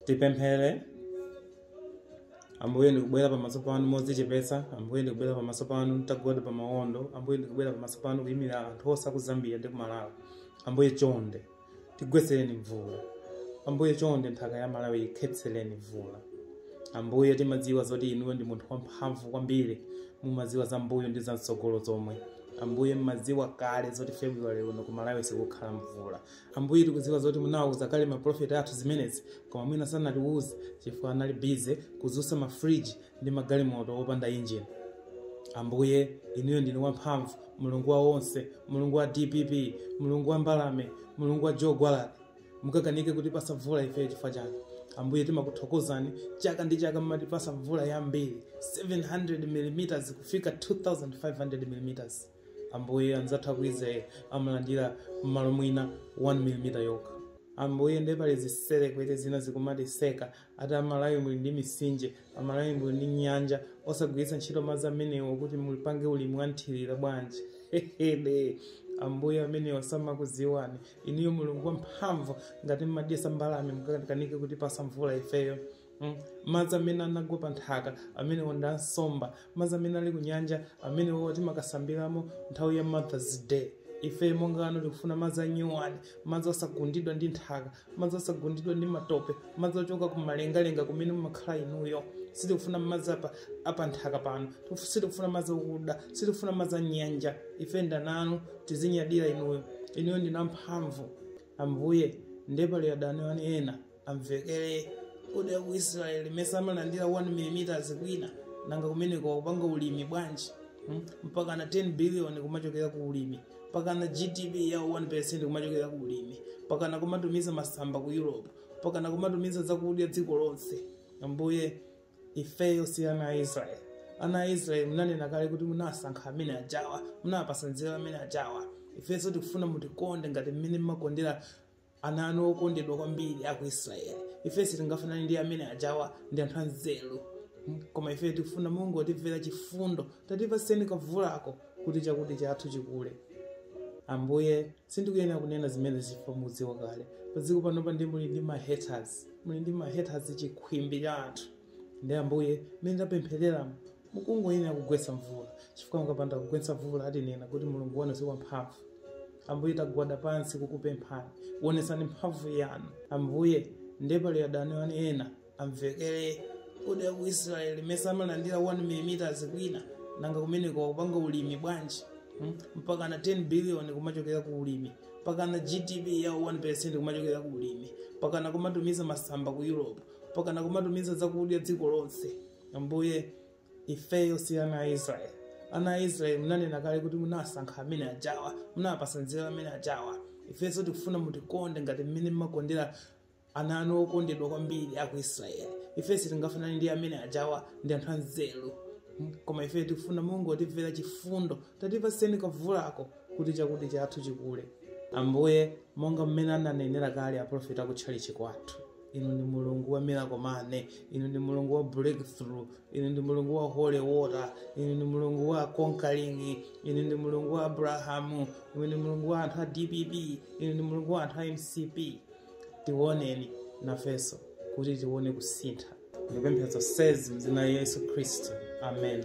Tipemphere. Ambuye ndikubwera pamaso panu modzichepetsa, Ambuye ndikubwera pamaso panu nditagwada pa mawondo, Ambuye ndikubwera pamaso panu kuyimira anthu onse aku Zambia ndi ku Malawi. Ambuye chonde, tigwetsereni mvula. Ambuye chonde, nthaka ya Malawi ikhetsereni mvula. Ambuye timadziwa zoti inuyo ndinu munthu wamphamvu kwambiri, mumadziwa za mbuyo ndi za mtsogolo zomwe. Ambuye mmadziwa kale zoti February uno ku Malawi sikukhala mvula. Ambuye, tikudziwa zoti munawauza kale maprofeti athu zimenezi, koma mwina sanatiuze chifukwa anali bize kudzutsa mafriji ndi magalimoto opanda injini. Ambuye, inuyo ndinu wamphamvu, Mulungu wa onse, Mulungu wa DPP, Mulungu wa mbalame, Mulungu wa Joe Gwaladi. Mukakanika kutipasa mvula ifeyo chifukwa chake. Ambuye, timakuthokozani chaka ndi chaka mumatipasa mvula yambiri 700 mm kufika 2500 mm. Ambuye anzathu aku Israel amalandira mmalo mwina 1 mm yokha. Ambuye ndiye pali zitserekwete zina zikumatiseka ati amalawi muli ndi misinje, amalawi muli ndi nyanja osagwiritsa ntchito madzi amenewo kuti mudzipanga ulimi wanthirira bwanji? Hehede! Ambuye amenewa samakuziwani. Inuyo Mulungu wamphamvu ngati mmadyesa mbalame mukakanike kutipasa mvula ifeyo. Madzi amene anagwa pa nthaka amenewo ndi ansomba madzi amene ali ku nyanja amenewo timakasambiramo nthawi ya mothers day ife monga ana anu tikufuna madzi anyuwani madzi osagundidwa ndi nthaka madzi osagundidwa ndi matope madzi ochoka ku malengalenga kumene mumakhala inuyo sitikufuna madzi apa nthaka pano sitikufuna madzi okuda sitikufuna madzi anyanja ife ndi ana anu tizinyadira inuyo inuyo ndinu amphamvu ambuye ndiye pali adani anu ena amvekere kodi aku israeli mesa amalandira 1 mm kwina nanga kumeneko akupanga ulimi bwanji mpaka na 10 billion kumachokera ku ulimi mpaka na gdp ya 1% kumachokera ku ulimi mpaka na kumatumiza masamba ku europe mpaka na kumatumiza zakudya dziko lonse ambuye ifeyo si ana a israeli ana a israeli munanena kale kuti munawasankha amene ajawa munawapasa nzeru amene ajawa ifenso tikufuna mutikonde ngati mmene mmawakondera ana anu okondedwa kwambiri aku israeli ife sitingafanane ndi amene ajawa ndi anthu anzeru koma ife tikufuna mulungu watimvera chifundo tatipaseni kavulako kuti chakudya chathu chikule ambuye sindikuyenera kunena zimenezi chifukwa mukudziwa kale padziko panopa ndiye muli ndi mahaters muli ndi mahaters chikhwimbi cha anthu ndiye ambuye mmene tapempherera mukungoyenera kugwetsa mvula chifukwa mukapanda kugwetsa mvula atinena kuti mulungu wathu si wamphamvu ambuye tagwada pansi kukupemphani wonetsani mphamvu yanu ambuye ndiye pali adani anu ena amvekere koma ku israeli mesa amalandira 1 mm kwina nanga kumeneko amapanga ulimi bwanji Hmm? mpaka na 10 billion kumachokera ku ulimi mpaka na gdp yawo 1% kumachokera ku ulimi mpaka na kumatumiza masamba ku europe mpaka na kumatumiza zakudya dziko lonse ambuye ifeyo si ana a israeli ana a israeli munanena kale kuti munasankha amene ajawa munapasa nzeru amene ajawa ifenso tikufuna mutikonde ngati mmene mmakondera ana anu okondedwa kwambiri aku israeli ifeyo sitingafanane ndi amene ajawa ndi anthu anzeru koma ifeyo tikufuna mungotimvera chifundo tatipaseni kavulako kuti chakudya chathu chikule ambuye monga mmene ananenera kale aprofeti akutchalichi kwathu inu ndi mulungu wa miracle money inu ndi mulungu wa breakthrough inu ndi mulungu wa holy water inu ndi mulungu wa conquering inu ndi mulungu wa abrahamu inu ndi mulungu wa anthu a dpp inu ndi mulungu wa anthu a mcp tiwoneni nafenso kuti tione kusintha ndikupempha zonsezi mdzina la yesu khristu amen